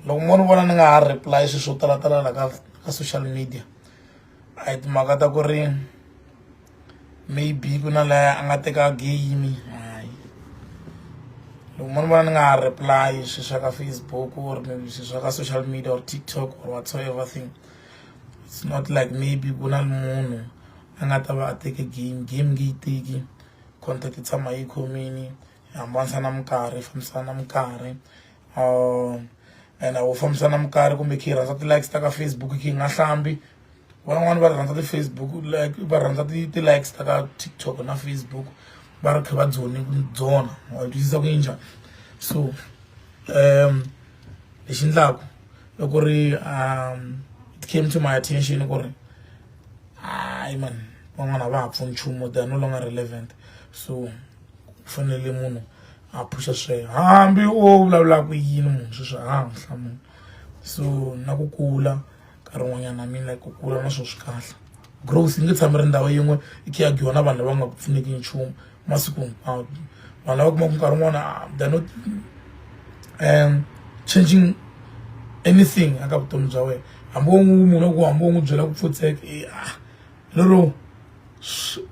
loko mo ni vona ni nga ha reply swilo swo talatala la ka ka social media a hi timhaka ta ku ri maybe ku na laya a nga teka game hayi loko mo ni vona ni nga ha reply swilo swa ka Facebook or maybe swilo swa ka social media or TikTok or whatsoever thing it's not like maybe ku na munhu a nga ta va a teke game game nge yi teki contact yi tshama yi khomini hambanisa na minkarhi fambisana na minkarhi um and a wu fambisana mukari kumbe khe yi rhandza ti-likes ta ka facebook khe yi nga hlambi van'wani va rhandza ti-facebook like va rhandza ti-likes ta ka tiktok na facebook va ri khe va dzone dzona wa twisisa ku yi njhani so um lexi ndlaku i ku ri um it came to my attention ku ri hayi man van'wana a va ha pfuni nchumu they are no longer relevant so ku fanele munhu ha phuxa sweswo hambi o vulavulaka yini munhu sweswo ha ha n'wi hlamula so na ku kula nkarhi wun'wanyana na mina ku kula na swona swi kahle growth yi nge tshami ri ndhawu yin'we yi khe ya dyiwa na vanhu lava nga ku pfuneki nchumu masiku hinkwawo vanhu lava kumaka nkarhi wun'wana ah, they're not um changing anything aka vutomi bya wena hambi wo n'wi munhu ku hambi wo n'wi byela ku pfutseka e eh, a ah, lero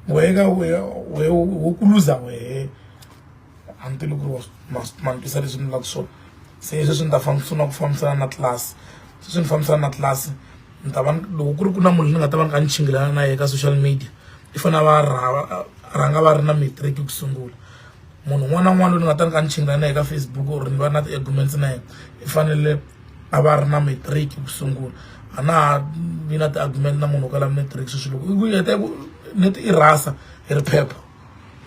wehe ka wehe wehe wo ku luza wehe a ni tivi ku ri ma ma ni twisa leswi ni vulaka swona se sweswi ni ta famba swi na ku fambisana na tlilasi sweswi ni fambisana na tlilasi ni ta va loko ku ri ku na munhu ni nga ta va ni kha ni chingelana na yena ka social media i fanele a va a rhanga va ri na matric ku sungula. munhu un'wana na un'wana loyi ni nga ta ni ka ni chingana na ye ka Facebook or ni va na ti-arguments na yena i fanele a va ri na matric ku sungula a na ha vi na ti-argument na munhu wo kala matric sweswi loko i ku heta ku neti i rasa hi ri phepha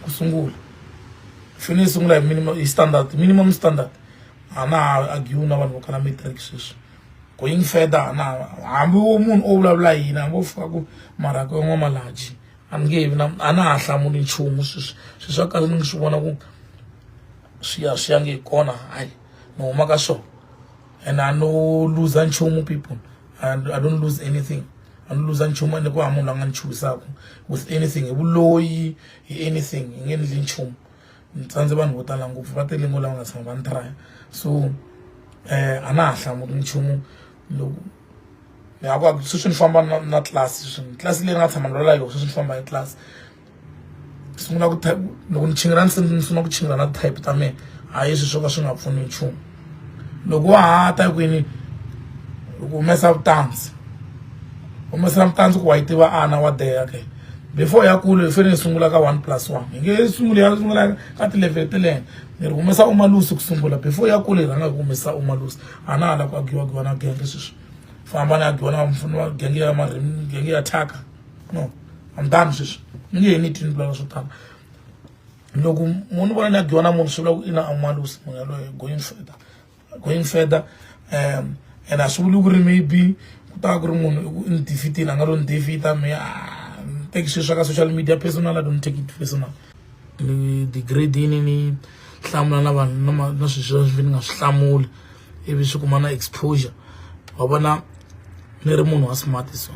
ku sungula fini yi sungula hi minimum hi standard minimum standard a na ha argue na vanhu vo kala matric sweswi going further na hambi wo munhu o vulavula yini hambi wo fika ku marhaka yan'wamalaji a ni nge vi na a na ha hlamuli nchumu sweswi sweswi swa kahle ni ngi swi vona ku swi ya swi ya nge kona hayi ni huma ka swona and a no luza nchumu people and i don't lose anything a ni luza nchumu ende ku ha munhu la nga ni chuhisaka with anything hi vuloyi hi anything hi nge endli nchumu ni tsandze vanhu vo tala ngopfu va tele ngo lava nga tshama va ni traya so um a na ha hlamuli nchumu loko ni nga ku a sweswi ni famba na na class sweswi class leyi ni nga tshama ni rhwala yona sweswi ni famba hi class ni sungula ku type loko ni chingela ni ni sungula ku chingela na type ta mina hayi sweswi swo ka swi nga pfuni nchumu loko wa ha ta kwini loko humesa vutandzi humesela mutandzi ku wa yi tiva ana wa deya ke before ya kule hi fanele hi sungula ka one plus one hi nge sunguli ya sungula ka ti-level telene ni ri humesa umalusi ku sungula before ya kule hi rhanga hi ku humesa umalusi a na ha lava ku akiwakiwa na genge sweswi famba ni akiwa na mufuni wa genge ya marimi genge ya thyaka no I'm done sweswi ni nge he ni tini vulala swo tala loko munhu vona ni akiwa na munhu swi vula ku i na amalusi munhu yaloye going further going further um and a swi vuli ku ri maybe ku ta ku ri munhu i ku ni defeatile a nga lo ni defeata me a ah, teki sweswi ka social media personal i don't take it personal ni degrade ni ni hlamula na vanhu na na swilo sweswi ni nga swi hlamuli ivi swi kuma na exposure wa vona ni ri munhu wa smart so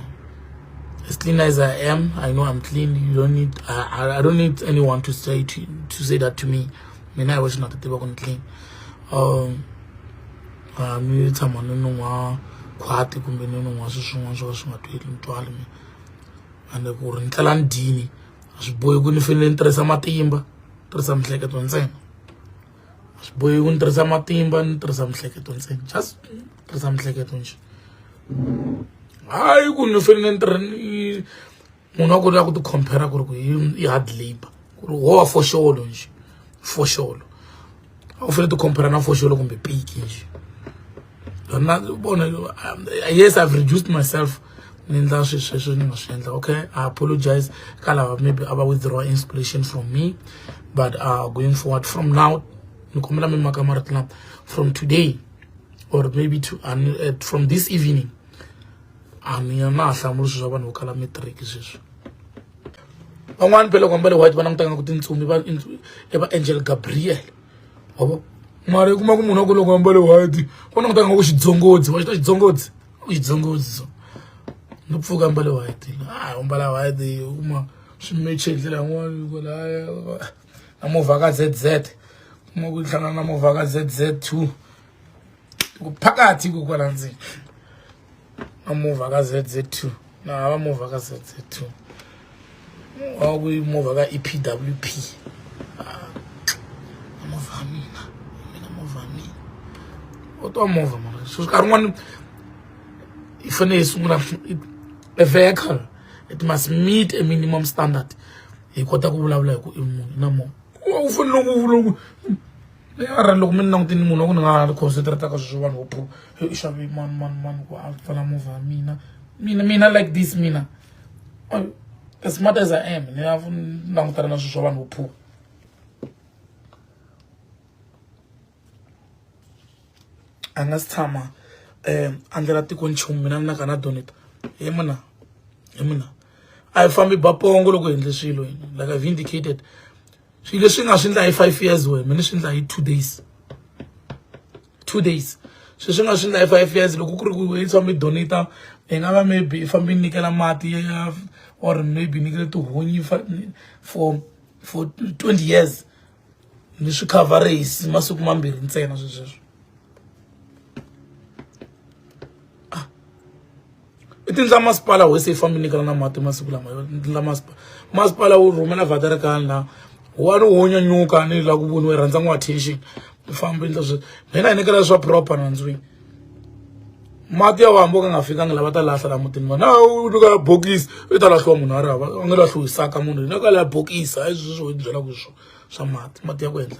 as clean as i am i know i'm clean you don't need i, I don't need anyone to say to, to say that to me mina hi wexe na ta tiva ku ni clean um a mi tshama ni ni n'wa khwati kumbe ni ni n'wa swi swin'wana swo ka swi nga tweli ni twali mi ande ku ri ni tlela ni dyini a swi bohi ku ni fanele ni tirhisa matimba tirhisa miehleketo ntsena a swi bohi ku ni tirhisa matimba ni tirhisa miehleketo ntsena just tirhisa miehleketo nje hayi ku ni fanele ni tirha ni munhu wa ku ri ya ku ti compare ku ri ku i hard labor ku ri wo wa foxolo nje foxolo a wu fanele ti compare na foxolo kumbe piki nje na vona yes i've reduced myself ni endla swilo sweswo ni nga swi endla okay i apologize ka lava maybe a va withdraw inspiration from me but uh, going forward from now ni kombela mi maka marito lama from today or maybe to, uh, from this evening a ni ya na ha hlamuli swilo swa vanhu vo kala matric sweswi van'wani phela ku ambale white va langutaka nga ku tintsumi va i va angel gabriel wa vo mara i kuma ku munhu wa ku loko ambale white va langutaka nga ku xidzongodzi wa xi ta xidzongodzi ku xidzongodzi so no pfuka ambale white a u mbala white u kuma swi meche hi ndlela yin'wana ku laya na movha ka z z kuma ku hlangana na movha ka z z two ku phakathi ku kwala ndzeni amuvha ka ZZ2 na hava muvha ka ZZ2 wa ku muvha ka EPWP ah, amuvha mina mina muvha mina u twa muvha mara so nkarhi n'wana yi fanele yi sungula a vehicle it must meet a minimum standard hi kota ku vulavula hi ku i munhu na munhu u fanele ku vula ku ara loko mi ni langutini munhu wa ku ni nga ha ni concentrataka swi swo vanhu vo i xavi mani mani mani ku a pfala movha mina mina mina like this mina as smart as i am ni ya langutana na swilo swa vanhu vo a nga si tshama um a ndlela tiko nchumu mina ni na ka na doneta hi muna hi muna a hi fambi bapongo loko hi endle swilo hina like i've indicated swilo leswi nga swi ndla hi five years wena mi ni swi ndla hi two days two days swilo swi nga swi ndla hi five years loko ku ri ku yi tshama mi donata hi nga va maybe i fambe ni nyikela mati ya or maybe ni nyikele tihunyi for for twenty years ni swi coverase masiku mambirhi ntsena swesweswo i tindla masipala hosi yi fambi nyikana na mati masiku lama ndla masipala masipala wu rhumela vaterekani laha wani wo nyanyuka ni la ku voniwa yi rhandza n'wa attention u famba endla swi mina hi nyikela swa proper nandzwini mati ya wambo ka nga fikanga lava ta lahla la mutini vona u nyika bokisi i ta lahliwa munhu a ri hava a nga lahliwisaka munhu hi nyika la bokisi hayi swi swi byelaka swo swa mati mati ya ku endla